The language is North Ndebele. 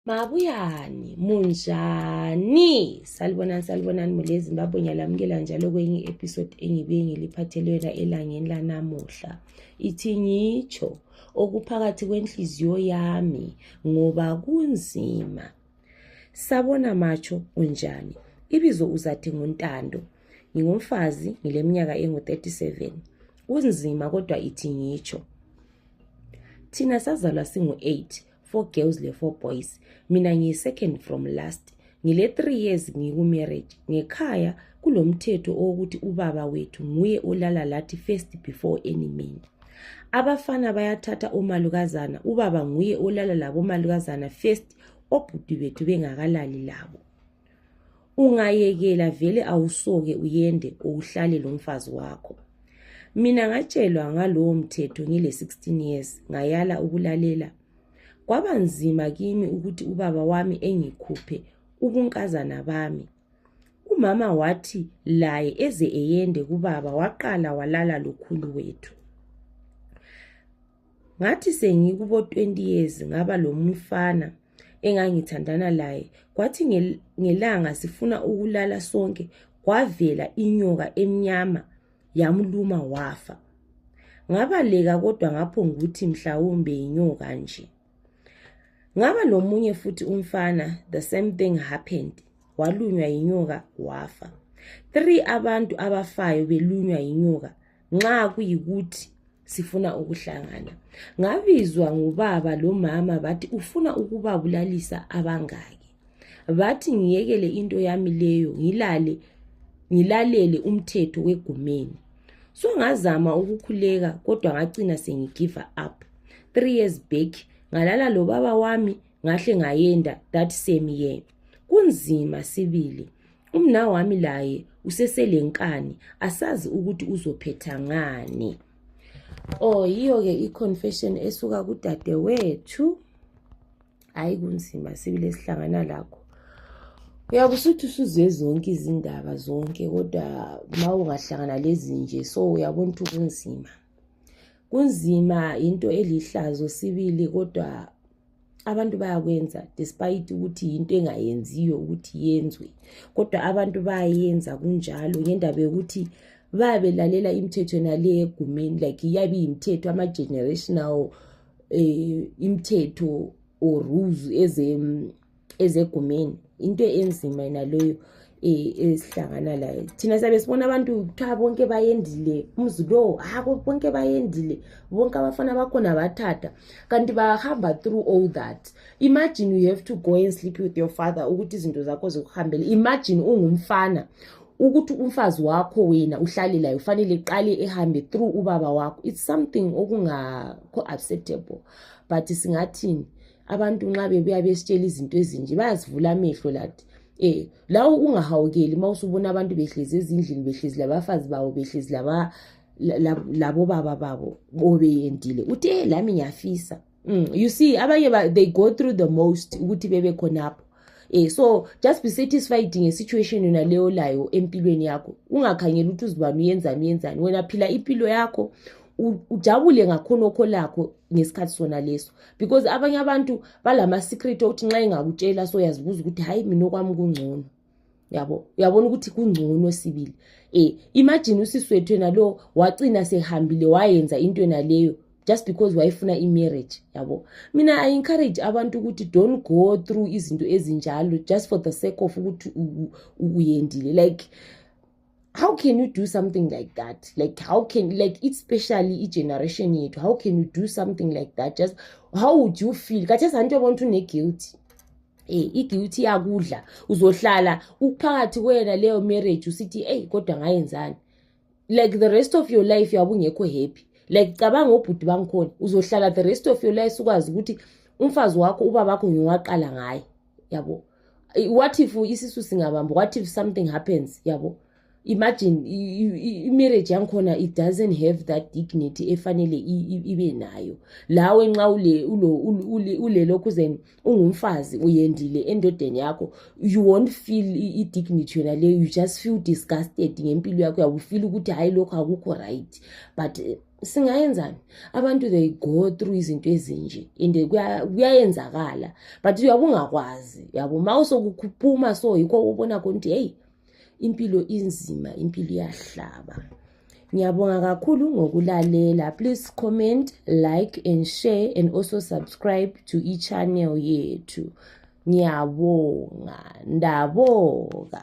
Mabuyani, munjani? Salibonani, salibonani mule Zimbabwe ngiyalamukela njalo kwenye episode engibe ngiliphathelwela elangeni lanamuhla. Ithi ngitsho okuphakathi kwenhliziyo yami ngoba kunzima. Sabona matsho unjani? Ibizo uzathi nguntando. Ngingumfazi ngileminyaka engu-37. Kunzima kodwa ithi ngitsho. Thina sazalwa singu-8 four girls le four boys mina ngiyi second from last ngile three years ngikumarriage ngekhaya kulomthetho owokuthi ubaba wethu nguye olala lathi first before any man abafana bayathatha omalukazana ubaba nguye olala labomalukazana first obhuti bethu bengakalali labo ungayekela vele awusoke uyende uwuhlale lomfazi wakho mina ngatshelwa ngalowo mthetho ngile-16 years ngayala ukulalela kwaba nzima kimi ukuthi ubaba wami engikhuphe ubunkazana bami umama wathi laye eze eyende kubaba waqala walala lokhulu wethu ngathi sengikubo 20 years ngaba lomfana engangithandana laye kwathi ngelanga sifuna ukulala sonke kwavela inyoka emnyama yamluma wafa ngabaleka kodwa ngapho ngukuthi mhlawumbe yinyoka nje ngaba lomunye futhi umfana the same thing happened walunywa yinyoka wafa three abantu abafayo belunywa yinyoka nxa kuyikuthi sifuna ukuhlangana ngabizwa ngubaba lomama bathi ufuna ukubabulalisa abangaki bathi ngiyekele into yami leyo ngilale ngilalele umthetho wegumeni so ngazama ukukhuleka kodwa ngacina sengigive up three years back ngalala lobaba wami ngahle ngayenda that same year kunzima sibili umnawami laye useselenkani asazi ukuthi uzophetha ngani o oh, yiyo-ke i-confession esuka kudadewethu hhayi kunzima sibili esihlangana lakho uyabe usuthi usuzwe zonke izindaba zonke kodwa ma ungahlangana lezi nje so uyabona ukuthi kunzima kunzima into elihlazo sibili kodwa abantu bayakwenza despite ukuthi yinto engayenziyo ukuthi yenzwe kodwa abantu bayayenza kunjalo ngendaba yokuthi bayabe lalela imithetho nale egumeni like iyabe iyimithetho ama-generational um imithetho or rules ezegumeni into enzima yena loyo e, esihlangana layo thina siyabe sibona abantu kuthiwa bonke bayendile umzi lowo hako bonke bayendile bonke abafana bakhona bathatha kanti bahamba through all that imagine you have to go and sleep with your father ukuthi izinto zakho zikuhambele imagine ungumfana ukuthi umfazi wakho wena uhlale layo ufanele qale ehambe through ubaba wakho it's something okungakho acceptable but singathini abantu nxa bebuya besitshela izinto ezinje bayasivula amehlo lathi eh lawo ungahawukeli uma usubona abantu behlezi ezindlini behlezi labafazi babo behlezi laba labo baba babo obeyendile uthe lami ngiyafisa mm, you see abanye they go through the most ukuthi bebe khonapho eh so just be satisfied ngesituation yona leyo olayo empilweni yakho ungakhangeli ukuthi uzibani uyenzani uyenzani wena phila impilo yakho ujabule ngakhonokho lakho ngesikhathi sona leso because abanye abantu balama-secret okuthi nxa engakutshela so uyazibuza ukuthi hhayi mina okwami kungcono yabo uyabona ukuthi kungcono sibili eh imagine usiswethu yena lo wacina sehambile wayenza into yena leyo just because wayefuna imarriage yabo mina i encourage abantu ukuthi don't go through izinto ezinjalo just for the sake of ukuthi uyendile like how can you do something like that like how can like especially igeneration yethu how can you do something like that just how would you feel kathesi anti yabona ukuthi une-guilty e, iguilty yakudla uzohlala uphakathi kwena leyo marriage usithi eyi kodwa ngayenzani like the rest of your life yabe ungekho happy like cabanga obhuti bangikhona uzohlala the rest of your life ukwazi ukuthi umfazi wakho ubabakho ngiwaqala ngaye yabo what if isisu singabamba what if something happens yabo imagine imarriage yangikhona it doesn't have that dignity efanele ibe nayo lawe nxa ulelokhu then ungumfazi uyendile endodeni yakho you won't feel i-dignity yona leyo you just feel disgusted ngempilo yakho uyakufila ukuthi hhayi lokho akukho right but eh, singayenzani abantu they go through izinto ezinje and kuyayenzakala but uyabungakwazi yabo ma usokuphuma so yikho ubona khona ukuthi heyi impilo inzima impilo iyahlaba ngiyabonga kakhulu ngokulalela please comment like and share and also subscribe to ichannel yethu ngiyabonga ndabonga